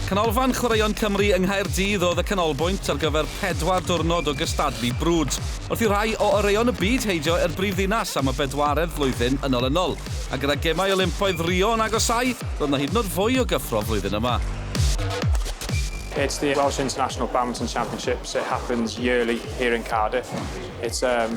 Canolfan Chwaraeon Cymru yng Nghaerdydd oedd y canolbwynt ar gyfer pedwar diwrnod o gystadlu brwd, wrth i rhai o oreuon y byd heidio i'r brifddinas am y bedwaredd flwyddyn yn olynol. A gyda Gemau Olympaidd Rio yn agosáu, roedd yna hyd yn oed fwy o gyffro flwyddyn yma. It's the Welsh International Badminton Championship, so it happens yearly here in Cardiff. It's um,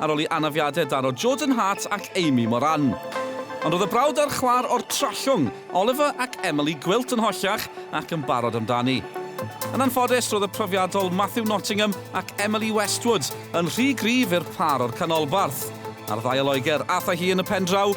ar ôl i anafiadau daro Jordan Hart ac Amy Moran. Ond roedd y brawd a'r chwaer o'r Trallwng, Oliver ac Emily Gwilt yn hollach ac yn barod amdani. Yn anffodus, roedd y profiadol Matthew Nottingham ac Emily Westwood yn rhy gryf i'r pâr o'r canolbarth. Ar ddau o Loegr, aeth â hi yn y pendraw,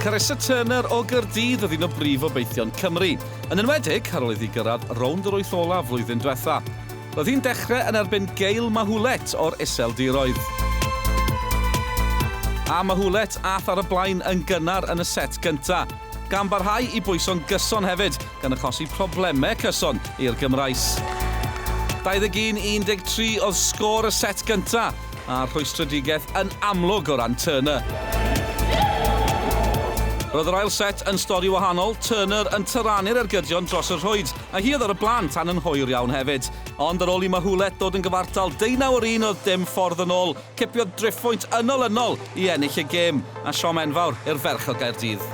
Carissa Turner o Gaerdydd oedd un o brif obeithion Cymru, yn enwedig ar ôl iddi gyrraedd rownd yr wyth olaf flwyddyn diwetha'. Roedd hi'n dechrau yn erbyn Gail Mahulet o'r Iseldiroedd. A Mahulet ath ar y blaen yn gynnar yn y set gynta', gan barhau i bwyso'n gyson hefyd, gan achosi problemau cyson i'r Gymraes. 21 i 13 oedd sgôr y set gynta'. a rhwystredigaeth yn amlwg o ran Turner. Roedd yr ail set yn stori wahanol, Turner yn tyrannu'r ergydion dros y rhwyd, a hi oedd ar y blaen tan yn hwyr iawn hefyd. Ond ar ôl i Mahoulet ddod yn gyfartal deunaw ar un oedd dim ffordd yn ôl, cipiodd driphwynt ynol-ynol i ennill y gêm, a siom enfawr i'r ferch o Gaerdydd.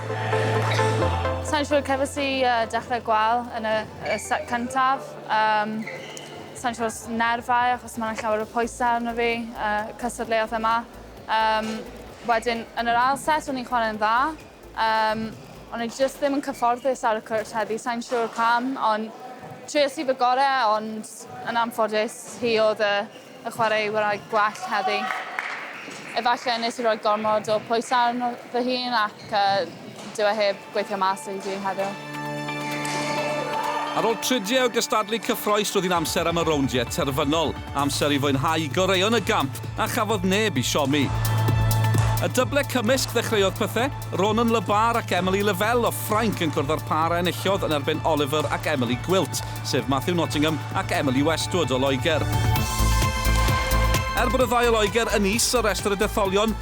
Sa i'n siŵr, cefais i dechrau gwael yn y set cyntaf. Sai'n siŵr os nerfau achos mae'n llawer o pwysau arno fi, uh, cystadleuaeth yma. Um, wedyn, yn yr ail set, o'n i'n chwarae'n dda. Um, ond o'n just ddim yn cyfforddus ar y cwrt heddi, sa'n siŵr pam, ond trio sydd y gorau, ond yn anffodus hi oedd y, y chwarae wrau gwell heddi. Efallai nes i roi gormod o pwysau arno fy hun ac Ca dyw e heb gweithio mas i fi heddiw. Ar ôl tridiau o gystadlu cyffroes roedd hi'n amser am y rowndiau terfynol, amser i fwynhau goreuon y gamp a chafodd neb i siomi. Y dyble cymysg ddechreuodd pethau, Ronan Le Barre ac Emily Lavelle o Ffrainc yn cwrdd â'r pâr a enillodd yn erbyn Oliver ac Emily Gwilt, sef Matthew Nottingham ac Emily Westwood o Loegr. Er bod y ddau o Loegr yn is ar restr y detholion,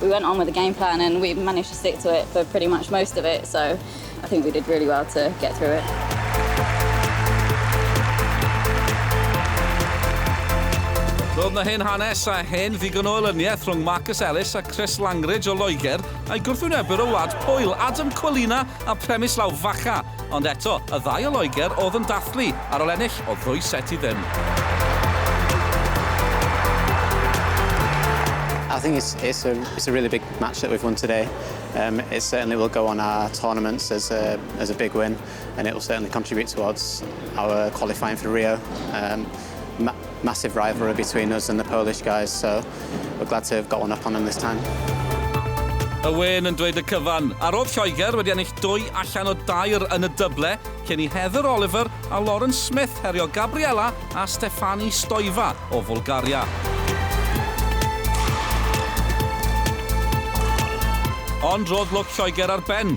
We went on with the game plan and we managed to stick to it for pretty much most of it so I think we did really well to get through it. Roedd na hen hanes a hen ddigon o elyniaeth rhwng Marcus Ellis a Chris Langridge o Loegr a'i gwrthwynebwyr o wlad Pwyl, Adam Colina a Premis Lawfacha. Ond eto, y ddau o Loegr oedd yn dathlu, ar ol ennill, oedd ddwy set i ddim. I think it's, it's, a, it's a really big match that we've won today. Um, it certainly will go on our tournaments as a, as a big win and it will certainly contribute towards our qualifying for Rio. Um, Ma massive rivalry between us and the Polish guys so we're glad to have got one up on them this time. Y wên yn dweud y cyfan, a rodd Lloegr wedi ennill dwy allan o dair yn y dyble cyn i Heather Oliver a Lauren Smith herio Gabriela a Stefani Stoiva o Fwlgaria. Ond rodd lwc Lloegr ar ben,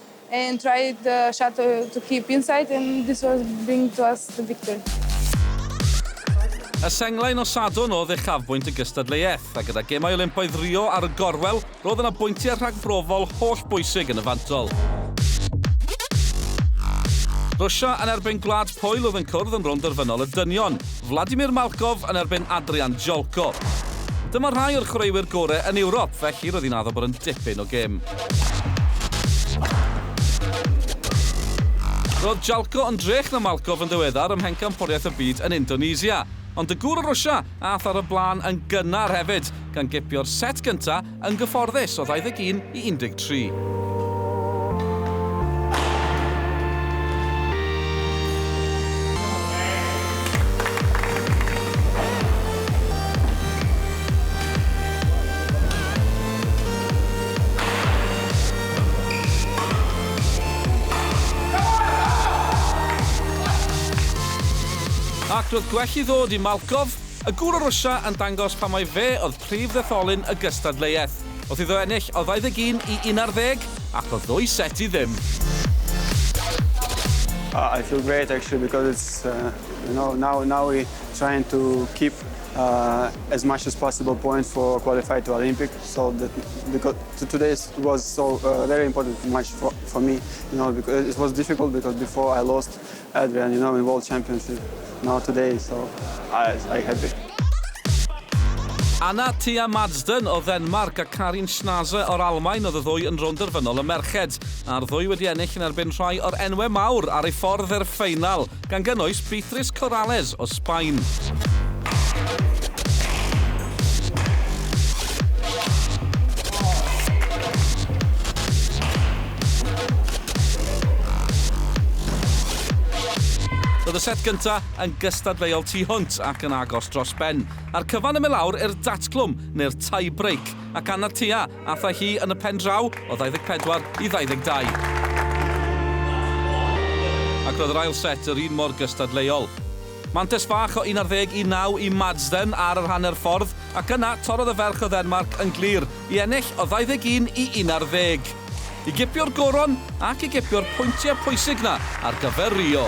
And tried the shadow to keep inside and this was bring to us the victory. Y senglau nos Sadwrn oedd uchafbwynt y gystadleuaeth, a gyda Gemau Olympaidd Rio ar y gorwel, roedd yna bwyntiau rhagbrofol holl bwysig yn y fantol. Rwsia yn erbyn Gwlad Pwyl oedd yn cwrdd yn rownd derfynol y dynion, Vladimir Malkov yn erbyn Adrian Jolko. Dyma rhai o'r chwaraewyr gorau yn Ewrop, felly roedd hi'n addo bod yn dipyn o gêm. Roedd Jalko yn drech na Malkov yn ddiweddar ym Mhencampwriaeth y Byd yn Indonesia. Ond y gŵr o Rwsia aeth ar y blaen yn gynnar hefyd, gan gipio'r set gyntaf yn gyfforddus o 21 i 13. Ac roedd gwell i ddod i Malkov, y gŵr o Rwsia yn dangos pam mai fe oedd prif ddetholyn y gystadleuaeth. Wrth iddo ennill o 21 i 11, ac o ddwy set i ddim. I feel great actually because it's now now now we trying to keep uh, as much as possible points for qualify to Olympic. So that, because today was so uh, very important match for, for me. You know, because it was difficult because before I lost Adrian, you know, in World Championship. Now today, so I, I happy. Anna Tia Madsden o Ddenmark a Karin Schnaze o'r Almain oedd y ddwy yn rownd derfynol y merched, a'r ddwy wedi ennill yn erbyn rhai o'r enwau mawr ar ei ffordd i'r ffeinal. gan gynnwys Beatrice Corrales o Sbaen. Roedd y set gyntaf yn gystadleuol tu hwnt ac yn agos dros ben, a'r cyfan yn mynd lawr i'r datglwm neu'r tie-break ac anad tua Athai hi yn y pen draw o 24 i 22. Ac roedd yr ail set yr un mor gystadleuol. Mantes fach o 11 i 9 i Madsden ar yr hanner ffordd ac yna torrodd y ferch o Ddenmarc yn glir i ennill o 21 i 11. I gipio'r goron ac i gipio'r pwyntiau pwysig 'na ar gyfer Rio.